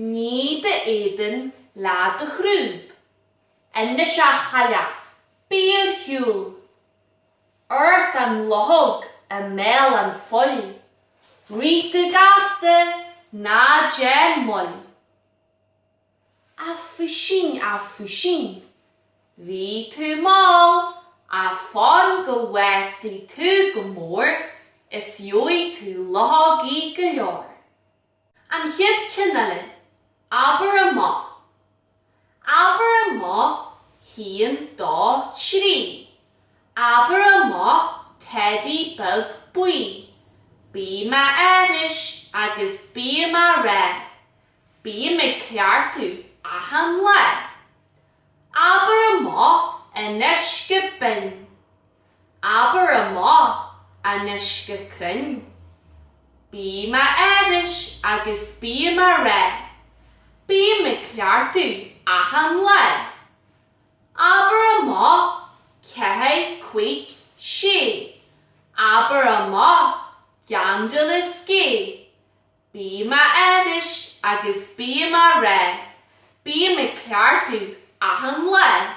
Nigh d'éadan le do chrúb. Anois a chailleach, bí ar shiúl! Ort an luchóg i mbéal an phoill! Rith go gasta, ná déan moill! A phuisín, a phuisín, bhí tú mall Ach fan go bhfásfaidh tú go mór Is gheobhaidh tú luchógaí go leor. An chéad cheann eile, abair amach. Abair amach haon dó trí. Abair amach teidí beag buí. Bím á aithris agus bím á rá. Bím ag ceartú achan lá. Abair amach anois go binn. Abair amach anois go cruinn. Bím á aithris agus bím á rá. Bím ag ceartú achan lá. Abair amach ceathair cúig sé. Abair amach gandal is gé. Bím á aithris agus bím á rá. Bím ag ceartú achan lá.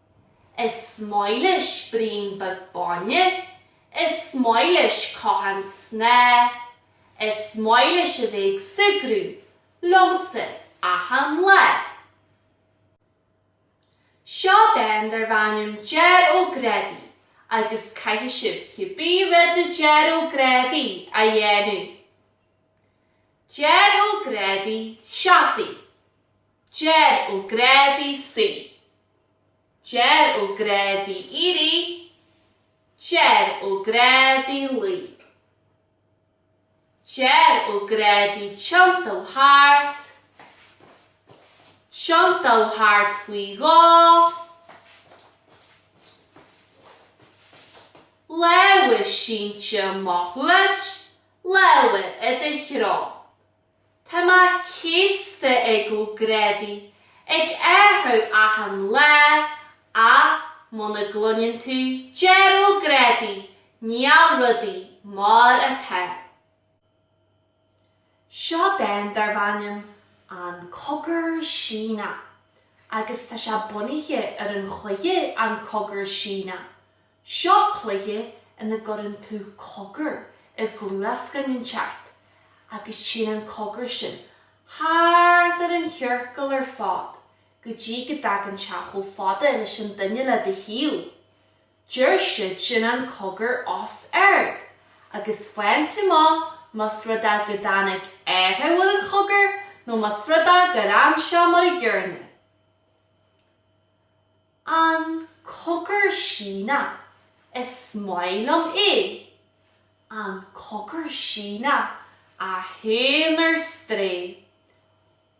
Is maith leis braon beag bainne. Is maith leis cothán snáth. Is maith leis a bheith ag súgradh liomsa achan lá. Seo dán darb ainm Deir Ó Grádaigh agus caithfidh sibh cibé rud a deir Ó Grádaigh a dhéanamh. Deir Ó Grádaigh, seasaigh. Deir Ó Grádaigh suigh. Deir Ó Grádaigh éirigh Deir Ó Grádaigh luigh Deir Ó Grádaigh tiontaigh thart Tiontaigh thart faoi dhó Lámha sínte amach uait Lámha i do threo Tá mé céasta ag Ó Grádaigh ag athrú achan lá ach muna gcluineann tú Deir Ó Grádaigh níl rudaí mar atá. Seo dán darb ainm An Cogar Síneach agus tá sé bunaithe ar an chluiche An Cogar Síneadh. Seo cluiche ina gcuireann tú cogar i gcluas duine inteacht agus téann an cogar sin thart ar an chiorcal ar fad go dtí go dtagann sé chomh fada leis an duine le do thaobh. Deir siad sin an cogar os ard agus faigheann tú amach más rud é go dtáinig athrú ar an chogar nó más rud é gur fhan sé mar an gcéanna. An cogar Síneach, is maith liom é. An cogar Síneach a théann ar strae.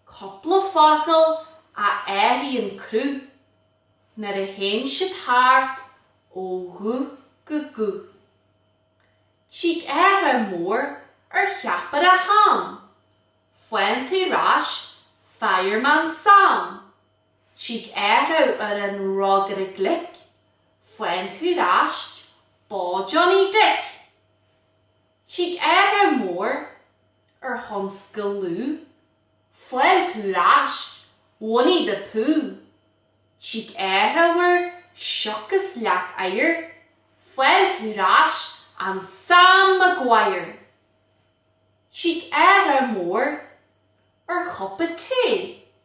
Cupla focal a athraíonn cruth nuair a théann siad thart ó ghuth go guth. Tig athrú mór ar cheapaire ham. Faigheann tú ar ais, Fireman Sam. Tig athrú ar an rógaire glic, faigheann tú ar ais Bó Johnny Dick! Tig athrú mór ar thionscal Lugh, faigheann tú ar ais Winnie the Pooh! Tig athrú ar sioc is leac oighir, faigheann tú ar ais an Sam Maguire! Tig athrú mór ar chupa tae.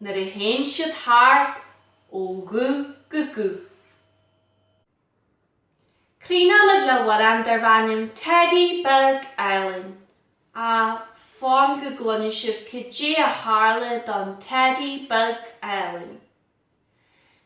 nuair a théann siad thart ó ghuth go guth. Críochnaímid le hamhrán darb ainm Teidí Beag Álainn, á fan go gcluinfidh sibh cad é a tharla don Teidí Beag Álainn.